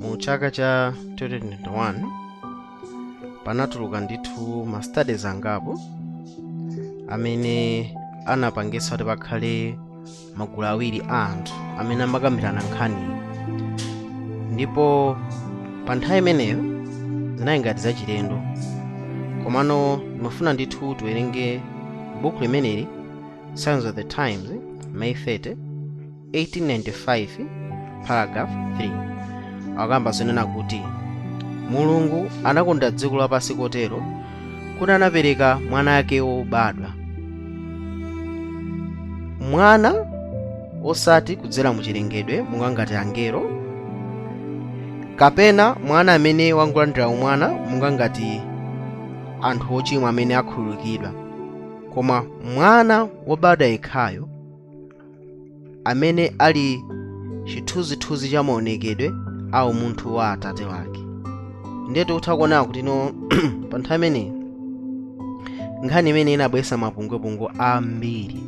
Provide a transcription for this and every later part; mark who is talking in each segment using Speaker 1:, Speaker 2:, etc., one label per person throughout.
Speaker 1: mu chaka cha 2021 panatuluka ndithu ma studies angapo amene anapangitsa kuti pakhale magulu awiri a anthu amene amakambirana nkhaniyi ndipo pa nthawi imeneyo zinali ngati zachilendo komano ndimafuna ndithu tiwerenge buku limeneli signs of the times may 30 1895 paragraph 3 akamba zonena kuti mulungu anakonda dziko lapansi kotero kuti anapereka mwana wake wobadwa mwana osati kudzera mu chilengedwe monga ngati angelo kapena mwana amene wangolandira umwana monga ngati anthu ochimwa amene akhululukidwa koma mwana wobadwa yekhayo amene ali chithunzithunzi cha maonekedwe a umunthu wa atate wake ndiye tikutha kuona kuti no pa nthawi imeneyi nkhani imene inabweretsa mapungwepungwe ambiri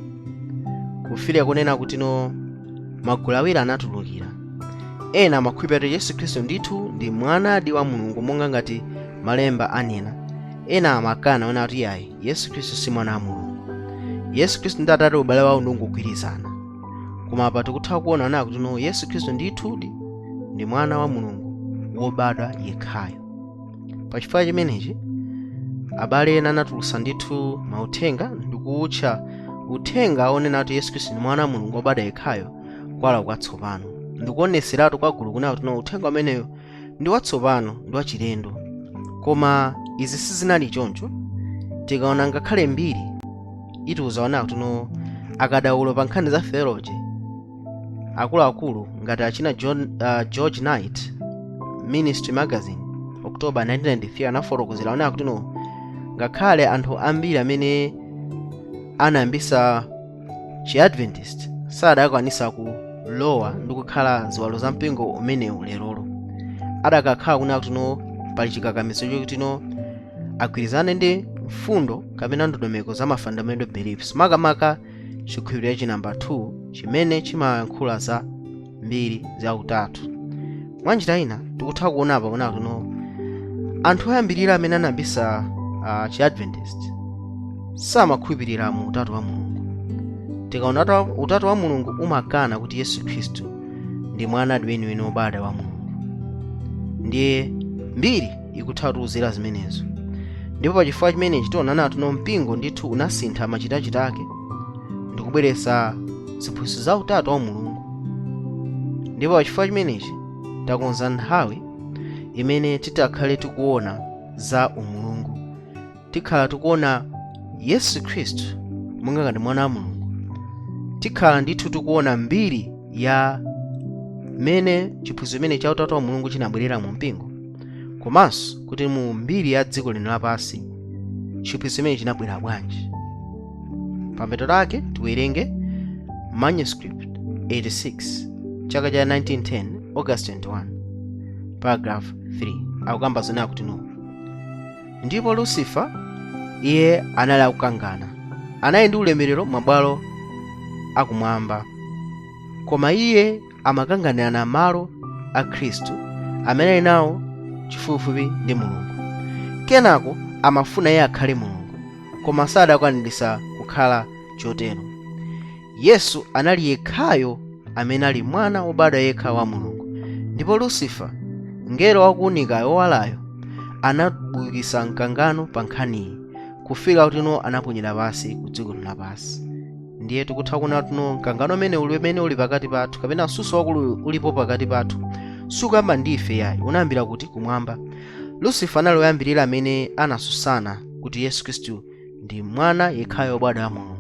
Speaker 1: kufika kunena kuti no magulu awiri anatulukira ena amakhulupirira kuti yesu khristu ndithu ndi mwanadi wa mulungu monga ngati malemba anena ena amakana kunena kuti iyayi yesu khristu si mwana wa mulungu yesu khristu ndi atate ubale wawo ndi wongogwirizana koma apa tikutha kuona kunena kuti no yesu khristu ndithudi ndi mwana wa mulungu wobadwa yekhayo pa chifukwa chimenechi abale ena anatulutsa ndithu mauthenga ndi kuwutcha uthenga onena kuti yesu khristu ndi mwana wa mulungu wobadwa yekhayo kuwala kwatsopano ndikuoneseratu kwa gulu kunena kuti no uthenga umeneyo ndi watsopano ndi wachilendo koma izi sizinali choncho tikaona ngakhale mbiri itiuza kunena kuti no akadaulo pa nkhani za theology akuluakulu ngati achina John, uh, george knight ministry magazine october 1993 anafotokozera kunena kuti no ngakhale anthu ambiri amene anayambisa chiadventist sadakwanisa kulowa ndi kukhala ziwalo za mpingo umenewu lerolo adakakhala kunena kuti no pali chikakamizo chokuti no agwirizane ndi mfundo kapena ndondomeko za ma fundamental beliefs makamaka chikhulupiriro cha namba 2 chimene chimayankhula za mbiri za utatu mwa njira ina tikutha kuona apa kunena kuti no anthu oyambirira amene anayambisa uh, chiadventist samakhulupirira mu utatu wa mulungu tikaona utatu- utatu wa mulungu umakana kuti yesu khristu ndi mwana weniweni wobadwa wa mulungu ndiye mbiri ikutha kutiuzira zimenezo ndipo pa chifukwa chimenechi tiona kunena kuti no mpingo ndithu unasintha machitachita ake ndi kubweretsa ziphunzitso za utatu wa mulungu ndipo pachifukwa chimenechi takonza nthawi imene titakhale tikuona za umulungu tikhala tikuona yesu khristu monga ngati mwana wa mulungu tikhala ndithu tikuona mbiri ya mmene chiphunzitso chimene cha utatu wa mulungu chinabwerera mu mpingo komanso kuti mu mbiri ya dziko lino lapansi chiphunzitso chimene chinabwerera bwanji pamapeto lake tiwerenge manuscript 86 chaka cha 1910 august 21 paragraph 3 akukamba zonena kuti no ndipo lucifer iye anali akukangana anali ndi ulemerero m'mabwalo akumwamba koma iye amakanganirana malo a khristu amene ali nawo chifupifupi ndi mulungu kenako amafuna iye akhale mulungu koma sadakwaniritsa kukhala chotero yesu anali yekhayo amene ali mwana wobadwa yekha wa mulungu ndipo lusifa mngelo wakuunika wowalayo anabukitsa mkangano pa nkhaniyi kufika kutino anaponyedwa pansi ku dziko lapansi ndiye tikutha kuona tuno mkangano umene uli umene uli pakati pathu kapena msuso wakulu ulipo pakati pathu sukuyamba ndi ife yayi unayambira kuti kumwamba lusifa anali woyambirira amene anasusana kuti yesu khristu ndi mwana yekhayo wobadwa wa mulungu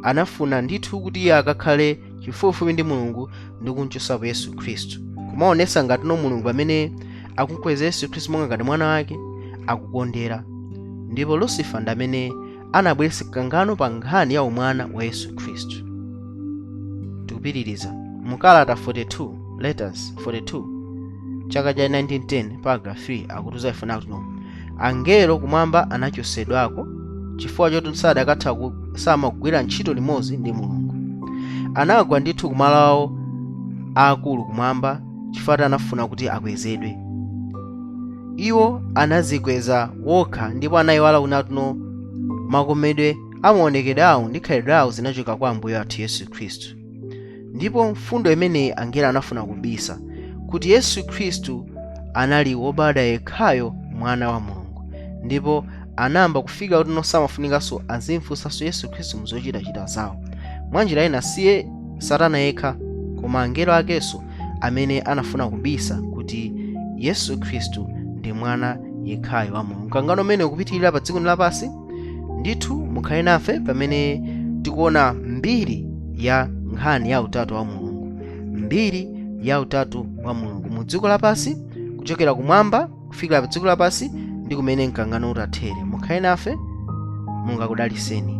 Speaker 1: anafuna ndithu kuti iye akakhale chifupifupi ndi mulungu ndi kumchosapo yesu khristu kumaonesa ngati no mulungu amene akumkweza yesu khristu monga ngati mwana wake akukondera ndipo lusifa ndi amene anabweretsa mkangano pa nkhani ya umwana wa yesu khristu tikupitiriza mu kalata 42 letters 42 chaka cha 1910 paragraph 3 akutiuza ife kunena kuti no angelo kumwamba anachosedwako chifukwa choti sadakatha ku- samagwira ntchito limodzi ndi mulungu anagwa ndithu kumalo awo aakulu kumwamba chifukwa anafuna kuti akwezedwe iwo anazikweza wokha ndipo anayiwala kunena kuti no makomedwe amaonekedwe awo ndi khalidwe awo zinachoka kwa ambuye athu yesu khristu ndipo mfundo imeneyi angelo anafuna kubisa kuti yesu khristu anali wobadwa yekhayo mwana wa mulungu ndipo anayamba kufika kuti no samafunikanso azimfunsanso yesu khristu muzochitachita zawo mwanjira ina siye satana yekha koma angelo akenso amene anafuna kubisa kuti yesu khristu ndi mwana yekhayo wa mulungu mkangano umene ukupitirira pa dziko lapansi ndithu mukhale nafe pamene tikuona mbiri ya nkhani ya utatu wa mulungu mbiri ya utatu wa mulungu mu dziko lapansi kuchokera kumwamba kufikira pa dziko lapansi ndi kumene mkangano utathere mukhale nafe mulungu akudaliseni